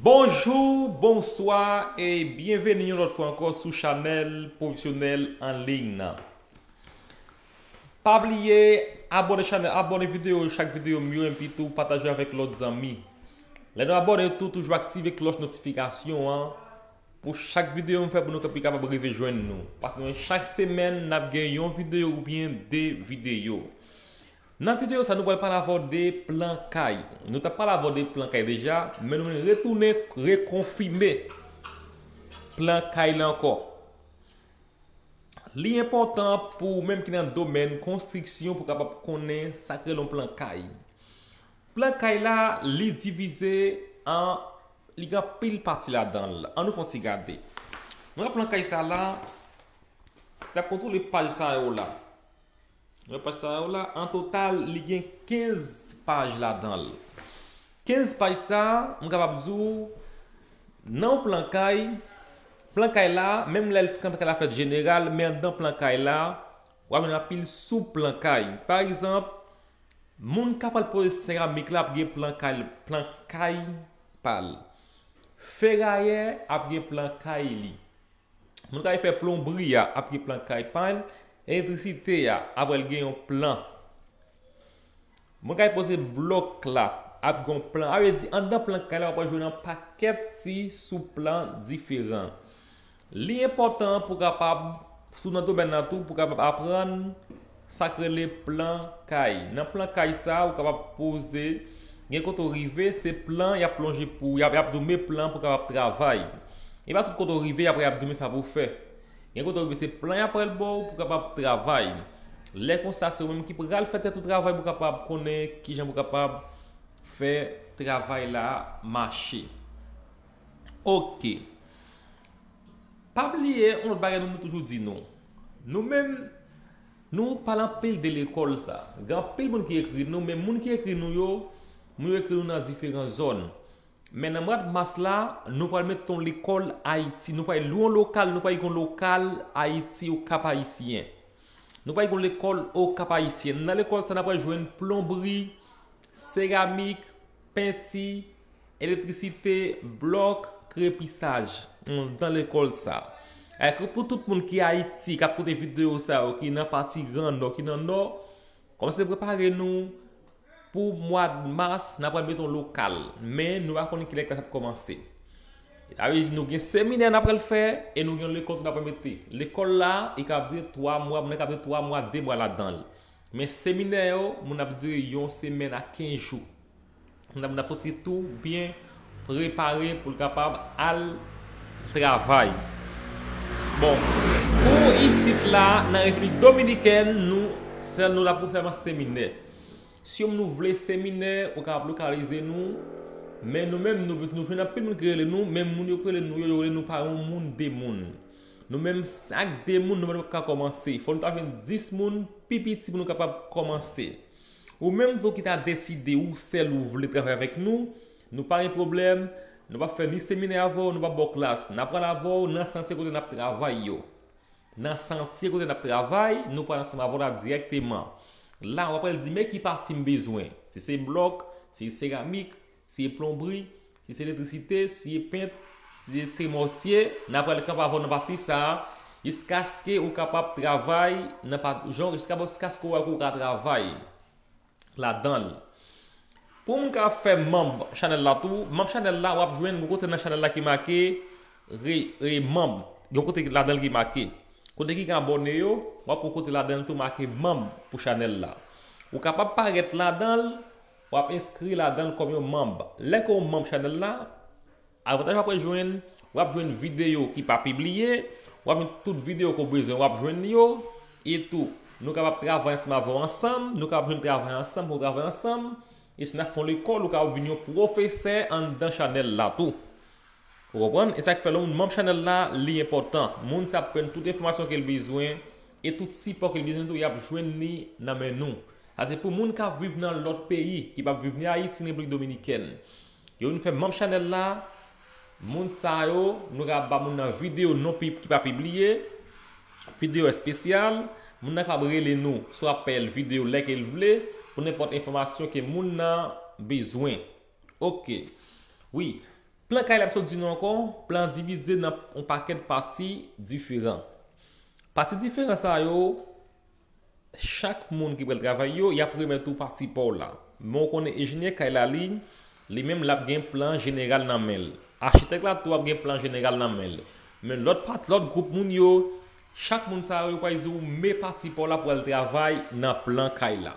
Bonjou, bonswa e byenveni yon lòt fwa ankò sou chanèl Profesyonèl an liy nan. Pa bliye abone chanèl, abone videyo chak videyo m yo enpi tou pataje avèk lòt zanmi. Lè nou abone tou toujou aktive klòch notifikasyon an pou chak videyo m fè pou nou ka pi kapab rive jwenn nou. Paske chak semèn n ap gen yon videyo oubyen 2 videyo. Nan video sa nou pral pale avèw de plan kay. Nou tap pale avèw de plan kay deja, men nou vin retounen rekonfime plan kay la ankò. Li enpòtan pou ou menm ki nan domèn konstriksyon pou kapab konnen sak rele yon plan kay. Plan kay la li divize an li gen anpil pati ladanl. An nou fè yon ti gade. Mwen gen plan kay sa la, si n ap kontwole paj sa yo la. Repas sa yo la, an total, li gen 15 paj ladan l. 15 paj sa, m kapab di w, nan yon plan kay, plan kay la, menm lè plan kay la fèt jeneral, men anndan plan kay la, w ap jwenn anpil sou plan kay. Pa egzanp, moun k ap pral poze seramik la ap gen plan kay li, plan kay pa l. Ferayè ap gen plan kay li. Moun kay fè plonbri a ap gen plan kay pa l, elektrisite a aprè l gen yon plan. Moun kay poze blòk la ap gen yon plan. A vle di anndan plan kay la wap jwenn yon pakèt ti sou plan diferan. Li enpòtan pou kapab sou nan domèn nan tou pou kapab aprann Sak rele plan kay. Nan plan kay sa ou kapab poze gen kote ou rive se plan y ap lonje pou y ap di w men plan pou w kapab travay. E pa tout kote ou rive apre y ap di w men sa pou w fè. Gen kote ou rive se plan y ap pral ba w pou w kapab travay. Lè konsa se ou menm ki pral fè tèt ou travay pou w kapab konnen kijan pou w kapab fè travay la mache. Ok. Pa bliye yon lòt bagay nou vle toujou di nou. Nou menm, nou pa lan peyi de lekòl sa. Gen anpil moun ki ekri nou, men moun ki ekri nou yo, moun yo ekri nou nan diferan zòn. Men nan mwad mas la, nou pral met yon lekòl Ayiti. Nou pral lwe yon lokal, nou pral gen yon lokal Ayiti o Kap Ayisyen. Nou pral gen yon lekòl o Kap Ayisyen. Nan lekòl sa nan pral jwenn plonbri, seramik, penti. Elektrisite, blòk, krepisaj, m dan lekòl sa. E ke pou tout moun ki Ayiti, k ap koute videyo sa yo, ki nan pati gran nò, ki nan nò, kòmanse prepare nou pou mwad mas, n apral mete yon lokal. Men, nou pa konnen kilè klas ap kòmanse. Sa vle di nou gen seminè n apral fè, e nou gen yon lekòl tou n apral mete. Lekòl la, li ka ap dire 3 mwa, moun nan ka ap dire 3 mwa, 2 mwa ladan l. Men seminè yo, moun ap dire yon semèn a 15 jou. Mwen ap soti tou byen prepare pou l kapab al travay. Bon, pou isit la nan Replik Dominikèn, nou sèl nou la pou fèman seminè. Si yon nou vle seminè, ou ka ap lokalize nou, men nou menm nou nou fè nan pi moun krele nou, men moun yo krele nou yo yo le nou pa yon moun de moun. Nou menm sak de moun nou menm ka komanse. Fò nou ta vin 10 moun, pi piti pou nou kapab komanse. Ou menm tou ki ta deside ou sèl ou vle travay avèk nou, nou pa gen pwoblèm, nou pa fè ni seminè avè w, nou pa ba w klas, na pral avè w nan santye kote nap travay yo. Nan santye kote nap travay, nou pral ansanm avè w la dirèkteman. La, wap pral di men ki pati m bezwen, si se blòk, si se seramik, Si e plonbri, si se elektrisite, si e pent, si se mòtye, n a pral kapab avè w nan pati sa a jiskaske ou kapab travay nan pa jan jiskaske ou wè ke ou ka travay ladan l. Pou m ka fè manb chanèl la tou, manb chanèl la w ap jwenn yon kote nan chanèl la ki make re e manb yon kote ki ladan l ki make kote ki gen abòne yo w ap wè kote ladan l tou make manb pou chanèl la ou kapab parèt ladan l Wap enskri ladanl kòm yon manb. Lè ke w manb chanèl la, avantaj wap wè jwenn, wap jwenn videyo ki pa pibliye, wap jwenn tout videyo ke w bezwen wap jwenn li yo, etou nou kapab travay ansanm avè w ansanm, nou kapab jwenn travay ansanm pou nou travay ansanm, e si nap fè yon lekòl ou kapab vin yon pwofesè anndan chanèl la tou. Ou konprann? E sak fè lè w manb chanèl la li enpòtan. Moun sa ap prann tout enfòmasyon ke l bezwen E tout sipò ke l bezwen tou y ap jwenn li nan men nou. Sa se pou moun k ap viv nan lòt peyi, ki p ap viv ni Ayiti ni Repiblik Dominikèn. Yo vin fè manm chanèl la, moun sa yo, nou ka ba moun nan videyo non ki pa pibliye, videyo espesyal, moun nan kapab rele nou, swa ap peye l videyo lè ke l vle, pou nenpòt enfòmasyon ke moun nan bezwen. Ok. Wi. Plan kay la m sot di nou ankò, plan an divize nan yon pakèt pati diferan. Pati diferan sa yo, chak moun ki pral travay yo, y ap remèt ou pati pa w la. Men w konnen enjenyè kay la li, li menm l ap gen plan jeneral nan men l. Achitèk la tou ap gen plan jeneral nan men l. Men lòt pati, lòt gwoup moun yo, chak moun sa yo, yo pral di w men pati pa w la pou w al travay nan plan kay la.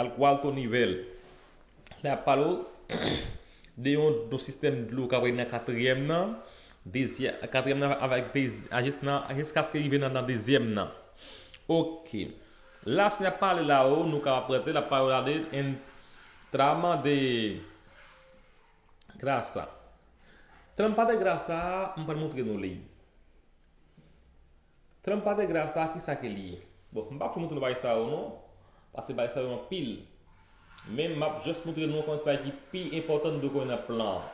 Al kwa l Tony Vel lè ap pale w de yon don sistèm dlo kap règne nan katriyèm nan, dezyè, katriyèm nan avèk dezi a jis nan a jiskaske rive nan nan dezyèm nan. Ok. La s n ap pale la o nou ka ap prete l ap pale w la de en tra mande grasa. Tran m pale de grasa a m pral montre nou li. Trump pa te gra sa kisa ke li ye. Bon m pap fè moutre bagay sa yo non paske bagay sa yo anpil men map just moutre nou kòman ti bagay ki pi enpòtan nou dwe konnen nan plan an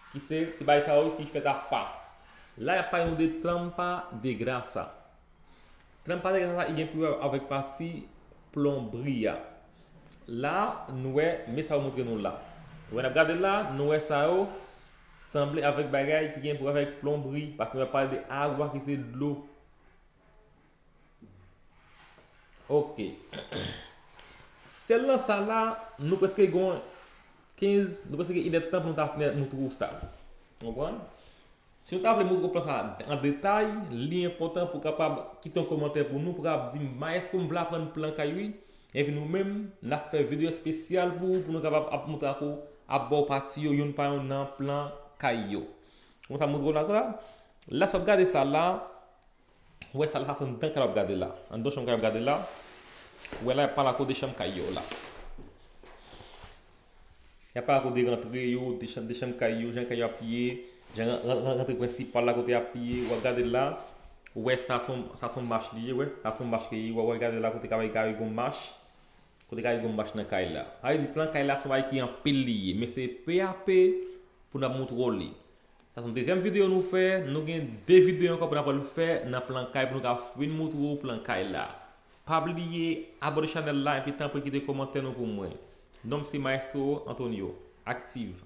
ki se ti bagay sa yo ki fèt apa la yap pale nou de tranpa de grasa tranpa de grasa ki gen pou wè avèk pati plonbri a la nou wè men sa yo moutre nou la wè nap gade la nou wè sa yo Sanble avèk bagay ki gen pou avèk plonbri, paske nou ap pale de agwa ki se dlo. Ok. Sèl nan sa la, nou preske gon 15, nou preske gen inèd tan pou nou ta fini nou twou sa. Konprann? Si nou ta vle moun konprann sa an detay, li enpòtan pou kapab kite yon komantè pou nou pou kapab di m, Maestro m vle aprann plan kay wi. Epi nou menm nap fè video espesyal pou ou pou nou kapab ap montre ak ou ap baw pati yo youn pa youn nan plan kay yo. Mwen ta montre w nan la. La sa wap gade sa la, ou wè sa la sa se anndan kay la wap gade la. Anndan chanm kay la wap gade la. Ou wè la yap pale ak ou de chanm kay yo la. Y ap pale kote rantre yo, de chanm, de chanm kay yo, jan kay yo ap ye, jan ran, ran, ran, rantre prensipal la kote y ap ye, wap gade la, ou wè sa son, sa son mach li ye wè, sa son mach li ye, wè wè gade la kote kay, kay gon mach, kote kay gon mach nan kay la. Sa vle di plan kay la son bagay ki anpil li ye, men se pe a pe pou nap moutre w li. Sa son dezyèm videyo nou fè, nou gen de videyo ankò pou nap al fè nan plan kay pou nou ka fin moutre w plan kay la. Pa bliye abone chanèl la epi tanpri kite komantè nou pou mwen. Nonm se Maestro Antonio. Active!